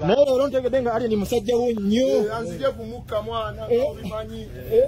naye leero ntegedde nga ali ni musajja wo nnyo eh, anzije kumukka mwana eh. obimanyi eh.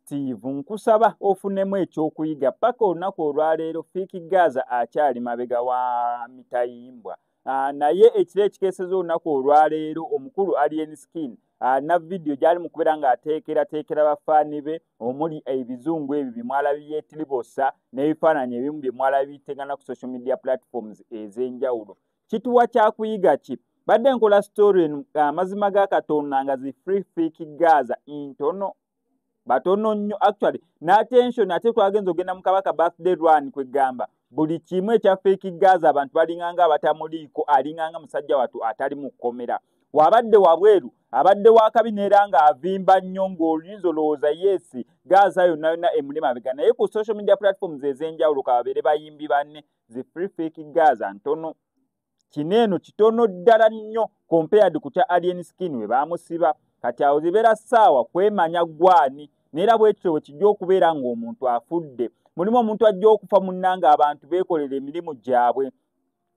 Steve nkusaba ofunemu ekyokuyiga paka olunaku olwaleero fiiki gaza akyali mabega wa mitayimbwa ah, naye ekiro ekikeseza olunaku olwaleero omukulu alien skin alina ah, vidiyo gyali mu kubeera ng'ateekerateekera bafaani be omuli ebizungu ebyo bye mwala byetiribosa n'ebifaananyi ebimu bye mwala biteŋana ku social media platforms ez'enjawulo kituwa kyakuyiga ki badde nkola story eno amazima ga katonda nga zi free fik gaza intono batono nnyo actually n'attention ate twagenza ogenda mu kabaka birthday run kwegamba buli kimu ekya fake gaza abantu balinganga abatamuliiko alinganga musajja watu atali mu kkomera wabadde wabweru abadde wakabi neera nga avimba nnyo ng'oluyinza olowooza yeesi gaza yonna yonna emuli mabega naye ku social media platforms ez'enjawulo kababeere bayimbi banne zi free fake gaza ntono kino eno kitono ddala nnyo compared ku kya alien skin we baamusiba kati awo zibeera ssaawa kwemanya gwani neera bwekityo bwe kijja okubeera ng'omuntu afudde mulimu omuntu ajja okufa munnanga abantu beekolera emirimu gyabwe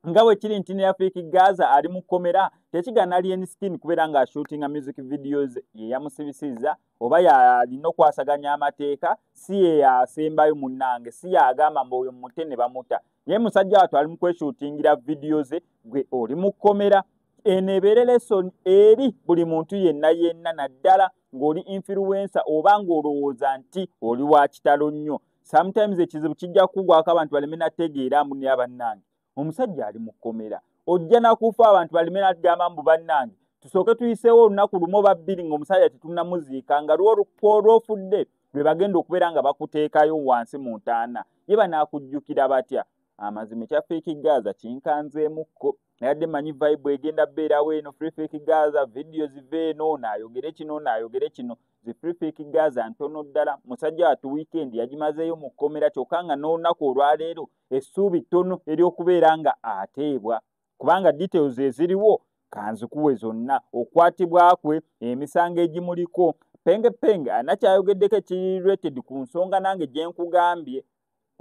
nga bwe kiri nti neyafiiki gaza ali mu kkomera tekigana alien skin kubeera ng'ashuutinga music videos ye yamusibisiza oba yalina okwasaganya amateeka si yeyasembayo munange si yagamba mbu oyo mute ne bamuta naye musajja watu ali mukweshutingira vidiyo ze gwe oli mukkomera eno ebeere lesoni eri buli muntu yenna yenna naddala ng'oli influensa oba ng'olowooza nti oli wa kitalo nnyo sometimes ekizibu kijja kukugwako abantu baleme nategeera mbu naye abannange omusajja ali mu kkomera ojja nakufa abantu balime natugamba mbu bannange tusooke tuyiseewo olunaku lumu oba bbiri ngaomusajja tetunamuziika nga lwolwofudde lwe bagenda okubeera nga bakuteekayo wansi mu ntaana ye banaakujjukira batya amazima ekyafeeki gaaza kinkanzeemukko nayadde manyi vibe egenda beerawo eno freefeeki gaaza vidiyo ziva eno naayogere kino naayogere kino zi freefeeki gaaza ntono ddala musajja watu wiikendi yagimazeeyo mu kkomera kyokka nga n'olunaku olwaleero essuubi ttono ery'okubeera nga ateebwa kubanga details eziriwo kanzikuwe zonna okukwatibwa kwe emisango egimuliko penge penge alina kyayogeddeko ekirirated ku nsonga nange gye nkugambye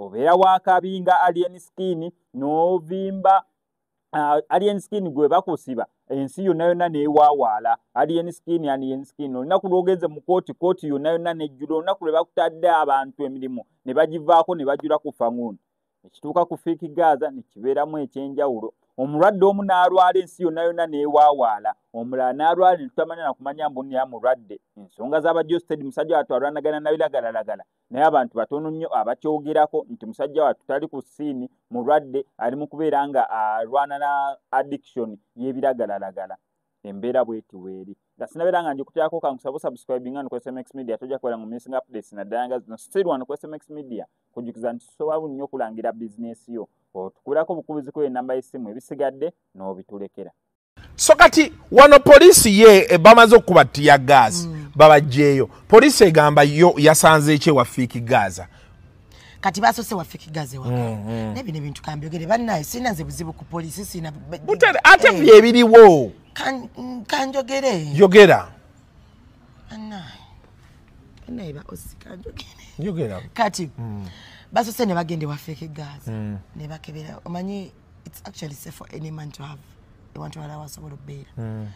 obeera wakabi nga alien skin n'ovimba uh, alien skin gwe bakusiba ensi yonna yonna newawaala alien skin alien skin olunaku lwogenze mu kooti kooti yonna yonna nejjula olunaku lwe bakutadde abantu emirimu ne bagivaako ne bajula ku fanguuni ekituuka ku fiiki gaaza nekibeeramu ekyenjawulo omulwadde omu n'alwala ensi yonna yonna newawaala omulala n'alwala netutamanya nakumanya mbunira mulwadde ensonga z'abajosted musajja watu alwanagana nabiragalalagala naye abantu batono nnyo abakyogerako nti musajja wattu tali ku siini mulwadde ali mu kubeera nga alwana na addiction y'ebiragalalagala embeera bweti weeri nga sinabeera nga njikutyako kankusaba osubscribe nga nukwesa mx media tojja kubeera mu missing updates naddala nga zino siri wano kwesa mx media kujjukiza nti tusoba bunnyo okulangira bizinesi yo otukulako bukubizi ku enamba y'essimu ebisigadde n'obitulekera so kati wano poliisi ye eh, bamaze okukuba tiya gaazi mm. babajjeeyo poliisi egamba yo yasanze ekye wafiiki gaaza kati basose wafiki gaze waka mm, mm. nebi nebi ntukambi ogere banaye sina nze buzibu ku police sina butale ate hey. Eh. bibiri wo kan kanjo gere yogera banaye banaye ba osikanjo gere yogera kati mm. basose ne bagende wafiki gaze mm. ne bakebera omanyi it's actually safe for any man to have ewantu wala wasobola okubeera hmm.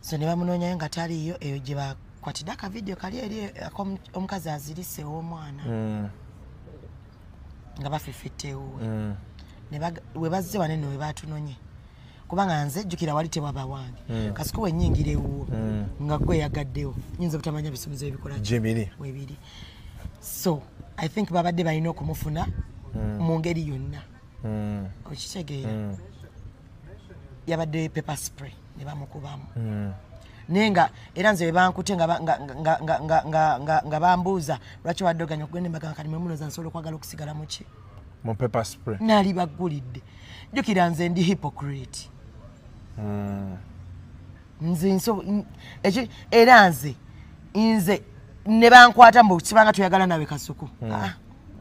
so ne bamunoonyayo nga taliiyo eyo gye bakwatidde akavidiyo kali eri omukazi azirise ow'omwana hmm. nga bafefetta ewuwe hmm. we bazze wane ne we baatunonye kubanga nze jjukira wali tewaba wange mm. kasiko wenyingira ewuwo mm. nga gwe yagaddewo nyinza obutamanya bisumuzo ebikola jebiri webiri so i think babadde balina okumufuna mm. mu ngeri yonna mm. mm. okitegeera mm. yabadde paper spray ne bamukubamu mm. naye nga era nze webankute nga bambuuza lwaki wadoganya okugenda embaga nga kati mwemunoza nsobola okwagala okusigala muki nali baggulidde jjukira nze ndi hypocrite mm. nze nso eki era nze nze ne bankwata mbu kibanga tuyagala nawe kasuku mm. ah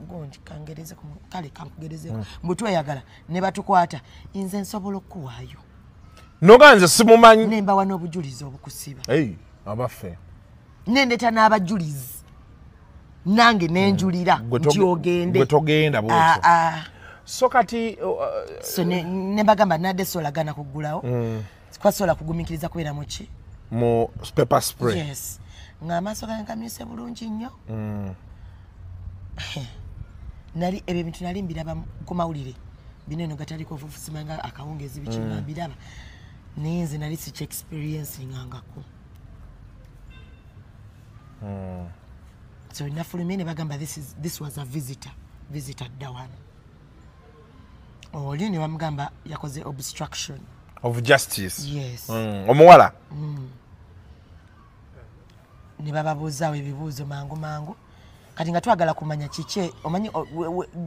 gondi kangereze ku kale kangereze mm. mbu tuyagala ne batukwata nze nsobola okuwayo noga nze simumanyi nemba wano obujulizi obukusiba hey abafe nendeta n'abajulizi nange nenjulira mm. nti ogende gwetogenda bwotyo ah, ah. so kati uh, so ne, ne bagamba nade solagana kugulawo mm. kwasobola kugumikiriza kubeera muki mu paper spray yes nga amaaso gange gamyuse bulungi nnyo mm. nali ebyo ebintu nali mbiraba ku mawulire bino eno gataliko ofufusima nga akawungeezi biki nga mm. mbiraba naye nze nali siki experience ngangako mm. so nafulumye ne bagamba this, is, this was a visitor visitor dawano oli oh, ne bamugamba yakoze obstruction of justice yes mm, omuwala mm. ne bababuuzaawo ebibuuzo mangu mangu kati nga twagala kumanya kiki omanyi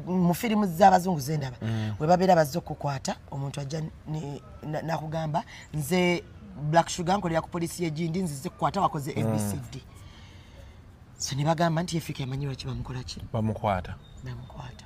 mu firimu z'abazungu zendaba mm. we babeera bazze okukwata omuntu ajja nakugamba nze black sugar nkolera ku polisi yegindi nzize kukwata wakoze abcd mm. so ne bagamba nti yefika emanyi lwaki bamukolaki bamukwata bamukwata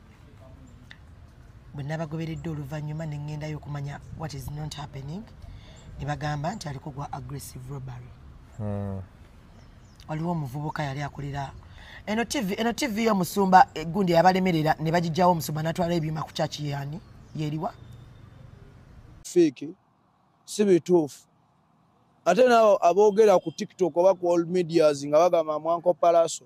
bwe nabagoberedde oluvannyuma ne ŋŋendayo okumanya what is not happening ne bagamba nti aliko gwa aggressive robbery hmm. waliwo omuvubuka yali akolera eno tv eno tv yo musumba egundi eh, yabalemerera ne bagijjawo omusumba natwala ebyuma ku kyaki yani yeriwa fiiki si bituufu ate naabo aboogera ku tiktok oba ku all medias nga bagamba mwanko palaso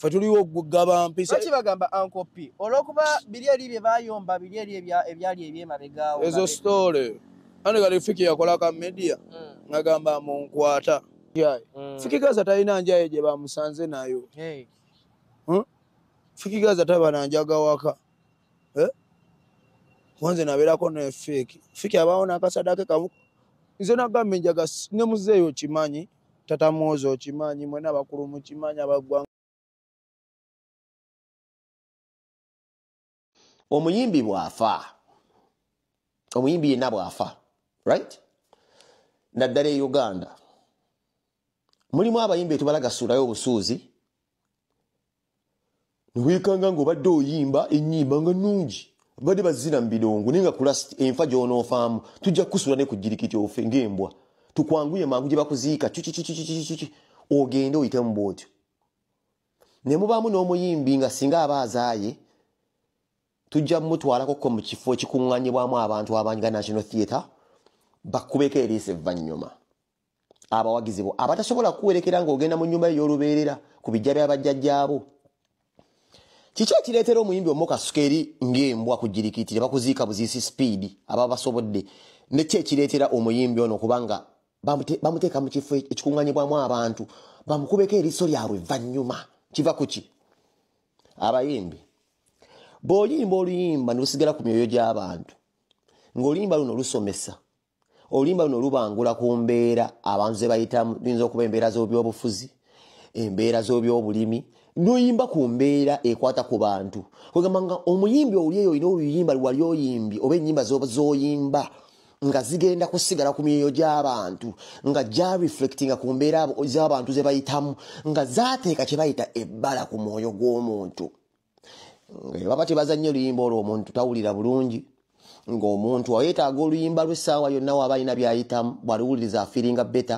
fe tuliwo okugaba mpisa ki bagamba ankopi olwokuba biri eri bye bayomba biri eri ebyali ebyemabegaawo ezo story ane kali fiki yakola ka media mm. ngagamba munkwata mm. fiki gaza talina njaye gye bamusanze nayo hey. huh? Hm? fiki gaza taba na njaga waka eh? wanze nabeerako ne fiki fiki abaawo nakasadake kamu nze nagamba enjaga ne muzeeyo kimanyi Tata Muhozi okimanyi, mwena abakulu mukimanyi abagwanga. Omuyimbi bwafa, omuyimbi yena bwafa, right? Naddala e Uganda. Mulimu abayimbi etubala gasurayo obusuuzi. newekanga nga obadde oyimba enyimba nga nungi bade bazina mubilongo naye nga kulast enfa gyonoofaamu tujja kukusula nekujirikiti ofe ngaembwa tukwanguye mangu gyebakuziika kikikikikikiki ogende oyitemu bwotyo nemubaamu n'omuyimbi nga singa aba azaaye tujja mumutwalakoko mu kifo ekikuŋŋanyibwamu abantu abanyiga national theatre bakubeeko eriisa evvannyuma abawagizi bo abatasobola kuwerekera ng'ogenda mu nnyumba ey'olubeerera ku bijja bya bajjajjaabo kiki ekireetera omuyimbi omu kasuka eri ng'embwa ku jirikitire bakuziika buziisi sipiidi aba basobodde nekyo ekireetera omuyimbi ono kubanga bamuteeka mu kifo ekikuŋanyibwamu abantu bamukubeko eriiso lyabwe vvannyuma kiva ku ki abayimbi bw'oyimba oluyimba ne lusigala ku myoyo gy'abantu ng'oluyimba luno lusomesa oluyimba luno lubangula ku mbeera abantu ze bayitamu luyinza okuba embeera z'obyobufuzi embeera z'obyobulimi noyimba ku mbeera ekwata ku bantu kwegamba nga omuyimbi owuli eyo olina oluyimba lwali oyimbi oba enyimba zoyimba nga zigenda kusigala ku myoyo gy'abantu nga gyareflectinga ku mbeera z'abantu ze bayitamu nga zateeka kye bayita ebbala ku mwoyo gw'omuntu baba tebazannye oluyimba olwo omuntu tawulira bulungi ng'omuntu ayetaaga oluyimba lw'essaawa yonna waaba alina byayitamu bwaliwuliriza afiringa beta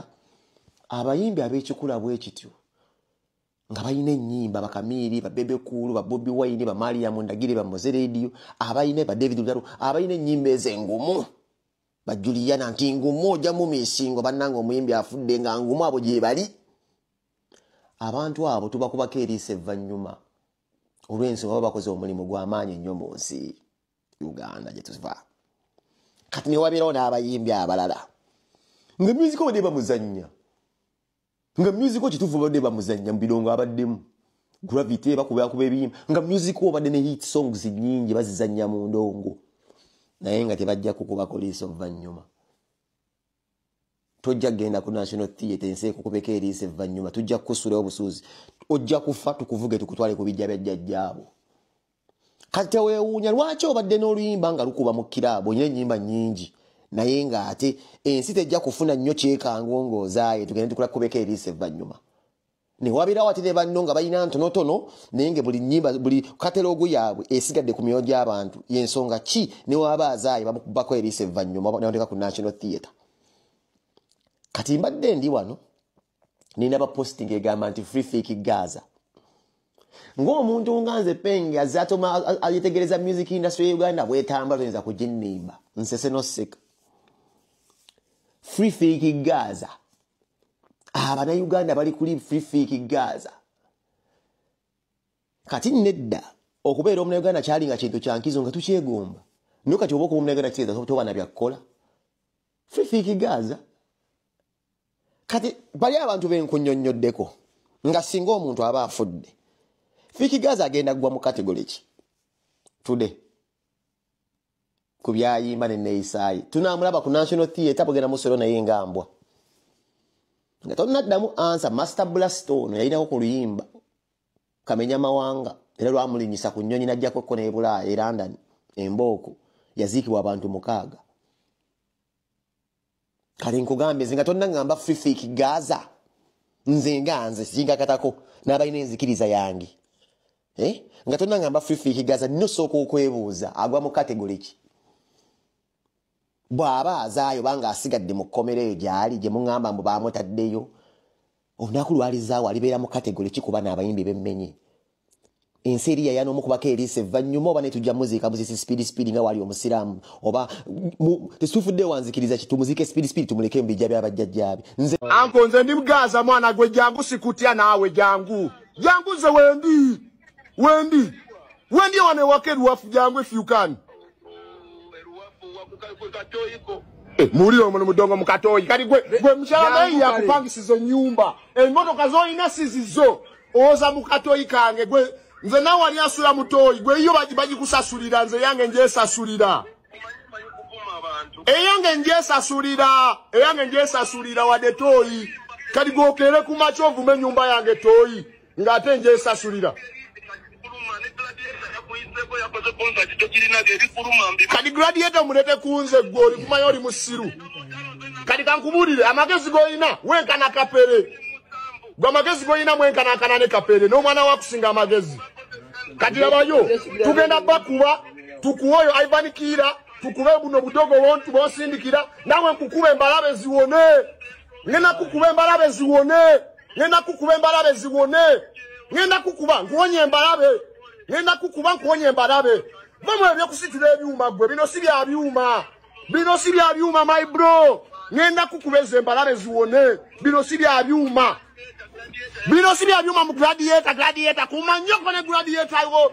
abayimbi ab'ekikula bwe kityo nga balina ennyimba bakamiiri babebekuulu babobi wayini bamaliyamu ndagire bamoze rediyo abalina badavid lutalo abalina ennyimba ezengumu bajuliyana nti ngumu ojja mumisingo bannanga omuyimbi afudde nga ngumu abo gyebali abantu abo tubakubako eriisa evvannyuma olw'ensonga baba bakoze omulimu gw'amaanyi ennyo mu nsi uganda gye tuva kati newabeerawo n'abayimbi abalala nga myuziko badde bamuzannya nga myuziko kituufu badde bamuzannya mu birongo abaddemu gravity bakubakuba ebiyimba nga myuziko obadde ne hit songs nnyingi bazizannya mu ndongo naye nga tebajja kukubako liisa oluvannyuma tojja kugenda ku national theatre ensi ekukubeko eriisa evvanyuma tujja kukusulayo obusuuzi ojja kufa tukuvuge tukutwale ku bijja bya jjajjaabo kati tewewuunya lwaki obadde n'oluyimba nga lukuba mu kiraabu olina ennyimba nnyingi naye ng'ate ensi tejja kufuna nnyo kyekango ng'ozaaye tugende tukula kukubeko eriisa evvanyuma newabeerawo ate ne banno nga balina ntonotono naye nga buli nyimba buli katalogu yaabwe esigadde ku myoyo gy'abantu yensonga ki newaaba azaayo bamukubako eriisa evvanyuma nateeka ku national theatre kati mbadde ndi wano nina baposting egamba nti free fake gaza ng'omuntu nga nze penge azatoma ayetegereza music industry ya uganda bwetamba toyinza kuginimba nsese noseka free fake gaza abana ah, uganda bali kuli fifiiki gaza kati nedda okubeera omuna uganda kyali nga kintu kyankizo nga tukyegomba naye kati oba okuba omuna uganda kiteeza toba na byakkola fifiiki gaza kati bali abantu benkunyonyoddeko nga singa omuntu aba afudde fiiki gaza agenda kugwa mu kategole ki tude ku byayimba neneeyisaaye tunaamulaba ku national theatre bugenda musolo naye nga mbwa nga tonaddamu ansa master blast ono yalinako ku luyimba kamenya mawanga era lwamulinyisa ku nnyonyi najjakokko nebulaaya e london embooko yaziikibwa abantu mukaaga kale nkugambe nze nga tonna ngamba fifik gaza nze nga nze sinkakatako n'abalina enzikiriza yange eh? nga tonna ngamba fifik gaza nosooka okwebuuza agwa mu kategole ki bw'aba azaayo banga asigadde mu kkomera eyo gyali gye muŋamba mbu baamutaddeyo olunaku lwalizaawo alibeera mu kategole kikuba n'abayimbi bemmenye ensi eri yayana omukubako eriisa evvannyuma oba netujja muziika muzisi sipiidi sipiidi nga waali omusiraamu oba tesitufudde wanzikiriza ki tumuziike sipiidi sipiidi tumuleke mu bijja byabajjajjaabe anko nze ndi bugaaza mwana gwe jangu sikutya naawe jangu jangu nze wendi wendi wendi ewano ewaka eriwafu jangu efyukaani Eh, muwulire omuno mudongo mukatooyi kati gwe gwe mukyalameyi yakupangisiza enyumba emotoka zolina sizizo owoza mukatooyi kange gwe nze nawe wali asula mutooyi gwe iyo bagikusasulira nze yange njesasulira eyange njesasulira eyange njesasulira wade tooyi kati gwokeere kumakyovume enyumba yange tooyi ng'ate njesasulira kati gradiyeta omulete kunze gwe oli kumanya oli musiru kati kankubuulire amagezi g'olina wenkana kapere gwe amagezi g'olina mwenkanakana ne kapere n'omwana wakusinga amagezi kati labayo tugenda bakuba tukuwa oyo aibanikiira tukube buno budogo wontu bonsindikira nawe nkukube embalabe ziwone ngena kukube embalabe ziwone ngenda kukuba embalabe ziwone ngenda kukuba nkuwonye embalabe ngenda kukuba nkuwonye embalabe vamwe ebyokusitula ebyuma gwe bino si bya byuma bino si bya byuma my bro ngenda kukuba ezo embalabe ziwone bino si bya byuma bino si bya byuma mu gladiator gladiator kuma nnyo kone gladiator iwo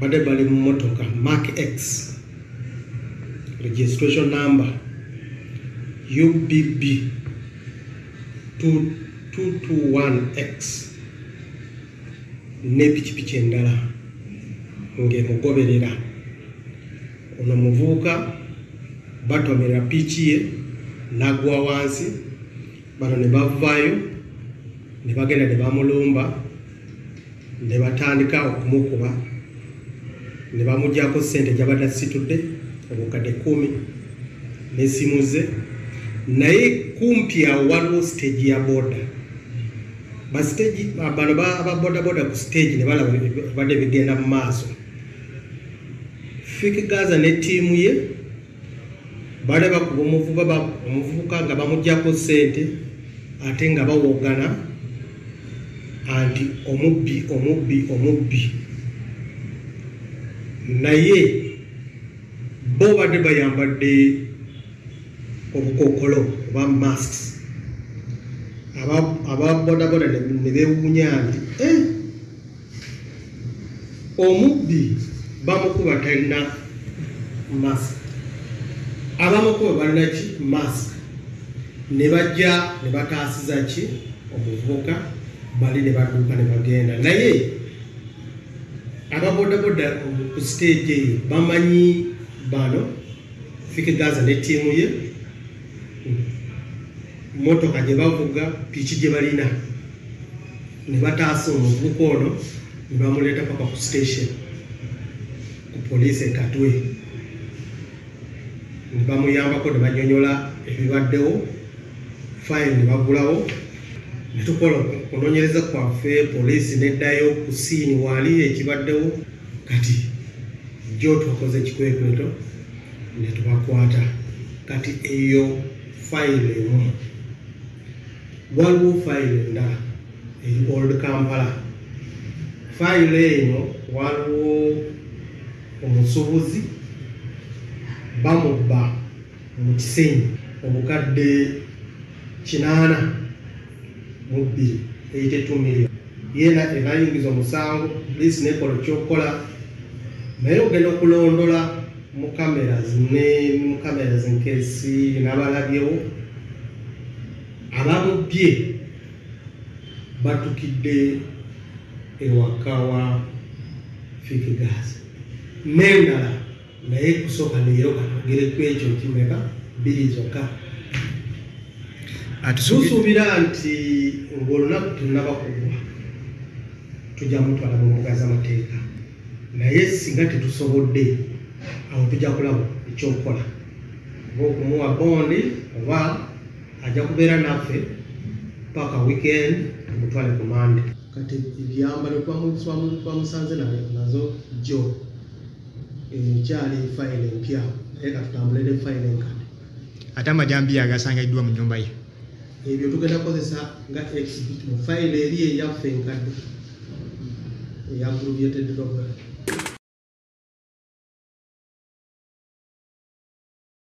bade bali mu motoka mark x registration number ubb 221x ne pikipiki endala ng'emugoberera ono muvubuka batomera piiki ye n'agwa wansi bano ne bavaayo ne bagenda ne bamulumba ne batandika okumukuba ne bamugyako ssente gyabadde asitudde obukadde kumi n'essimu ze naye kumpi awo waliwo siteegi ya boda basiteegi bano ababodaboda ku siteegi ne balaba badde bigenda mu maaso fik gaza ne ttiimu ye Baali bakuba omuvuba omuvubuka nga bamugyako ssente ate nga bawogana anti omubbi omubbi omubbi naye bo badde bayambadde obukokolo oba masks ababodaboda ne bewunya nti eh, Omubbi bamukuba talina mask, abamukuba balina ki mask ne bajja ne bataasiza ki omuvubuka bali ne badduka ne bagenda naye ababodaboda ku siteegi eyo bamanyi bano fike gaza ne ttiimu ye mmotoka gye bavuga piki gye balina ne bataasa omuvubuka ono ne bamuleeta paka ku station ku poliisi ekatwe ne bamuyambako ne banyonyola ebibaddewo fayiro ne bagulawo ne tukola okunoonyereza kwaffe poliisi neddayo ku siini waali ekibaddewo kati jjo twakoze ekikwekweto ne tubakwata kati eyo fayiro emu Waliwo fayiro endala eri Old Kampala. Fayiro eno waliwo omusuubuzi bamubba mu Kisenyi obukadde kinaana mu bbiri eyite two million yeena ebayingiza omusango poliisi nekola okyokukola naye ogenda okulondola mu cameras ne mu cameras nkesi nabalabyewo Abamubbye batukidde ewaka wa Fik Gas n'endala naye kusooka leero katwogere ku ekyo kimeka bbiri zokka tusuubira nti ng'olunaku tunaba kugwa tujja mutwala mu mbuga z'amateeka naye singa tetusobodde awo tujja kulaba ekyokukola oba okumuwa bondi oba ajja kubeera naffe paka weekend tumutwale ku mande kati ebyambalo twamusanze nazo jo ekyali eh, fayiro empya naye katutambule ne fayiro enkadde ate amajambiya agasangiddwa mu nyumba ye ebyo tugenda kukozesa nga exhibit mu fayiro eri eyaffe enkadde eya gulubyetedde